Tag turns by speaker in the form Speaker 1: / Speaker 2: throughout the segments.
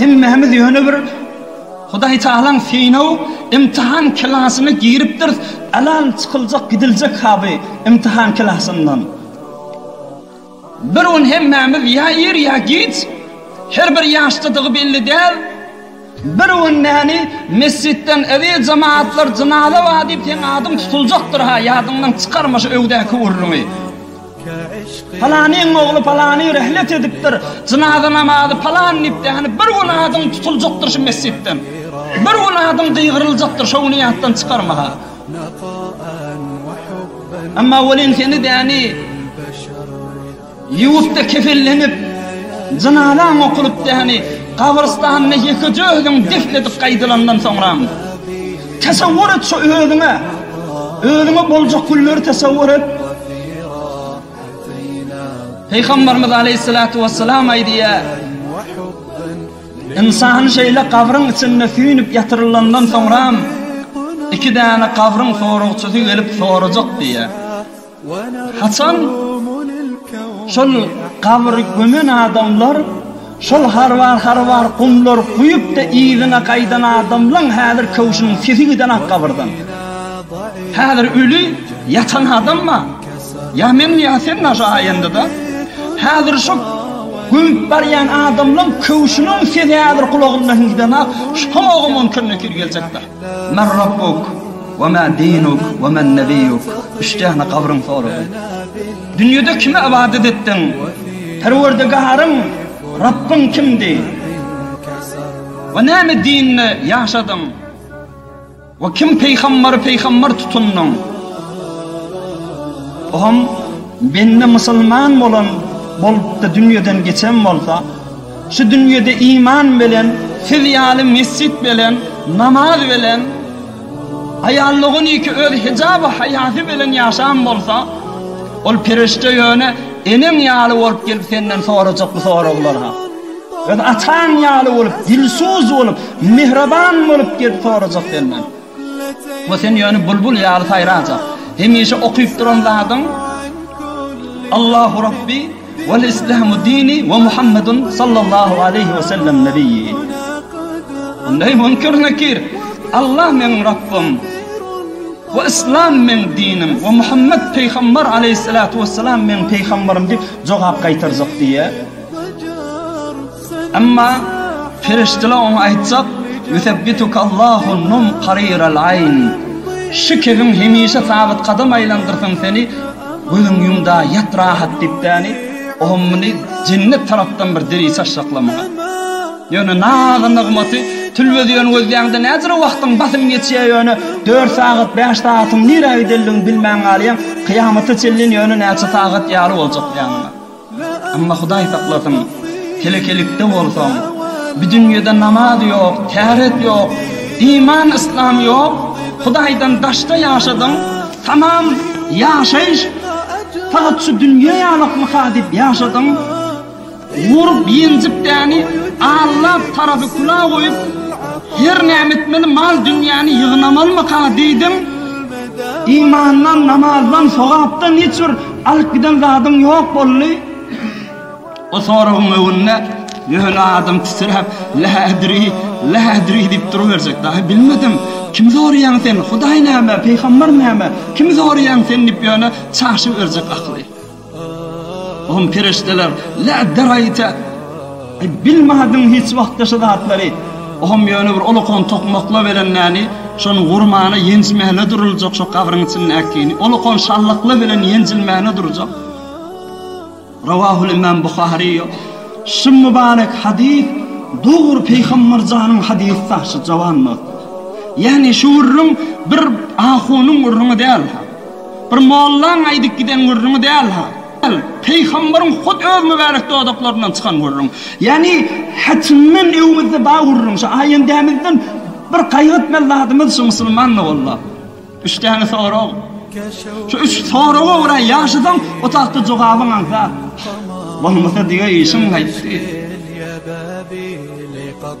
Speaker 1: Hemmämiz ýöne bir Hudaýtagalaň synaw, imtihan klasyna giripdiris, alan çykyljak gidiljek haby imtihan klasyndan. Bir gün hemmämiz ýa ir ýa giç, her bir ýaşdadygy belli däl, bir gün näni mesjitden eziz jemaatlar jynaza bar diýip seň adyň tutuljakdyr-ha ýadyňdan çykarma şu öwdäki gürrüňi. Palanyň ogly palany rehlet edipdir, jynaza namazy palan diýipdi, ýagny bir gün adyň tutuljakdyr şu mesjitden. Bir gün adyň gygyryljakdyr şo güni ýatdan çykarma-ha. Emma welin seni däni ýuwupda kefenlenip, jynazaň okulypdy, ýagny gabrystanda ýekeje özüň defn edip gaýdylandan soňra. Tesewwur et şu özüňe, özüňe boljak günleri tesewwur et. Pygamberimiz Aleyhissalatu vesselam aýdýar, Insan şeýle gabryň içinde süýnüp ýatyrylandan soňram, iki däne gabryň soragçysy gelip sorajak diýýär. Haçan şol gabyry gömen adamlar şol harwar-harwar gumlary guýup-da yzyna gaýdan adamlaň häzir köwşüniň sesi gidenok gabyrdan. Häzir öli ýatan adam bar. Ýa men, ýa sen naşa aýanda-da. Häzir şo gömüp barýan adamlaň köwşüniň sesi häzir gulagyndan gidenok. Şo-o mümkin, mümkin geljekdir. Men Rabbuk we ma dinuk we men nebiyuk. Üç däne gabryň soragy. Dünýede kime ibadet etdiň? Perwerdigaryň, Rabbyň kimdi? We näme dinde ýaşadyň? We kim peýgambary peýgambar tutundyň? Oňam bende musulman bolan bolupdy dünýeden geçen bolsa, Şu dünýede iman bilen, siz ýaly mesjit bilen, namaz bilen, aýallygyniki öz hijaby haýasy bilen ýaşan bolsa, ol perişde ýöne eneň ýaly bolup gelip senden sorajak bu soraglar ha. Öz ataň ýaly bolup, dilsuz bolup, mähriban bolup gelip sorajak senden. we sen ýöne bulbul ýaly saýrajak. Hemişe okyp duran zadyň Allahu Rabbi wal islamu dini we Muhammedun sallallahu aleýhi we sellem nebiyyi. Ondaý mümkin nekir. Allah meniň Rabbym. we islam men dinim we Muhammed peýgamber aleyhissalatu vesselam men peýgamberim diýip jogap gaýtarjak diýýär. Emma perişdeler oňa aýtjak, Ýusebbitukallahu num kariral aýn, Şu kebin hemişe sabyt gadam aýlandyrsyn seni, gözüň ýum-da ýat rahat diýip däni, oňa muny jennet tarapdan bir deri çaşjakla muňa. Ýöne naz-nygmaty tülbeziýen gözleýäňde näzire wagtyň basym geçýär ýöne dört sagat bäş sagatyň nirä gidenligini bilmän galýaň, kyýamata çenlin ýöne näçe sagat ýaly boljak ýanyňa. Amma Hudaý saklasyn, telekelikde bolsaň, bi dünýede namaz ýok, täret ýok, iman yslam ýok, Hudaýdan daşda ýaşadyň, tamam ýaşaýyş fakat şu dünýe ýalakmyka diýip ýaşadyň, urup ýenjip däni Alla tarapy küla goýup, her näme etmeli mal dünýäni ýygnamalymyka diýdiň, imandan, namazdan, sogapdan hiç bir Alyp giden zadyň ýok boldy. O soragyň öňünde ýöne adam titräp, La adri, la adri diýip duruberjek. Daýy, bilmedim. Kimi soraýaň sen? Hudaý näme, pygamber näme? Kimi soraýaň sen diýip ýöne çaşyberjek akyly. Oňa perişdeler, La daraýta. Bilmadyň hiç wagtda şu zatlary. Ohum ýöne bir olakan tokmakla belenmäni, şony gurmana ýenjmäne duruljak şo gabryň içindäkini, olakan şallakla belen ýenjilmäne durjak. Rawahul imam Buhary ýok. Şu mübarek hadys dogry Peýgamber janyň hadysda şu jawan notda. Ýagny şu gürrüň bir ahunyň gürrüňi däl-ha. Bir mollaň aýdyp giden gürrüňi däl-ha. Ol, Pygamberyň hut öz mübärek dodaklaryndan çykan gürrüň. Ýagny, Haçandan öwmüzde bar gürrüň, şu aýendämizden bir gaýgy etmeli zadymyz şu musulmanlyk Alla. Üç däne sorag. Şu üç soraga görä ýaşasaň, otagda jogabyň aňsat. Bolmasa diňe işiň gaýtdy.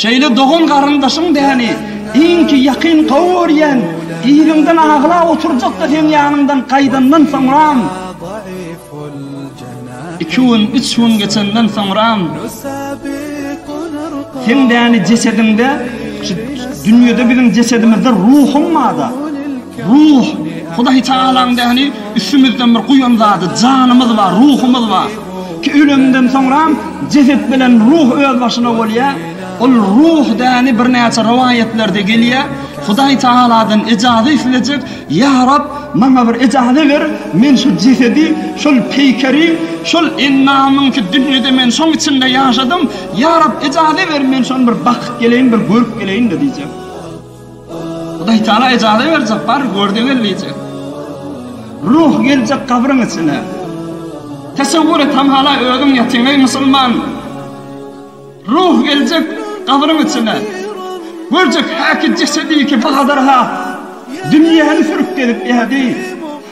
Speaker 1: Şeýle dogan-garyndaşyň däni iňki ýakyn gowy görýän iliňden aglap oturjakda seň ýanyňdan gaýdandan soňram, iki gün, üç gün geçenden soňram, seň däni jesediňde, şu dünýede biziň jesedimizde ruhum barda, ruh, Hudaýtagalaň däni üstümizden bir guýan zady, janymyz bar, ruhumyz bar. Ki ölümden soňram jeset bilen ruh özbaşyna bolýa. Ol ruh däni birnäçe rowaýatlerde gelýä. Hudaý Tagaladan ejaza islejek, Ýa Rab, maňa bir ejaza ber, men şu jesedi, şol peýkeri, şol endamy ki dünýede men şoň içinde ýaşadym, Ýa Rab, ejaza ber, men şony bir bakyp geleýin, bir görüp geleýin-de diýjek. Hudaý Taala ejaza berjek, bar, gör-de gel diýjek. Ruh geljek gabryň içine. Tesewwür et, ham-hala özüň ýatyň, eý, musulman! Ruh geljek gabryň içine. Görjek häki jesedi ki, bazarha dünýäni sürüp gezip ýädi.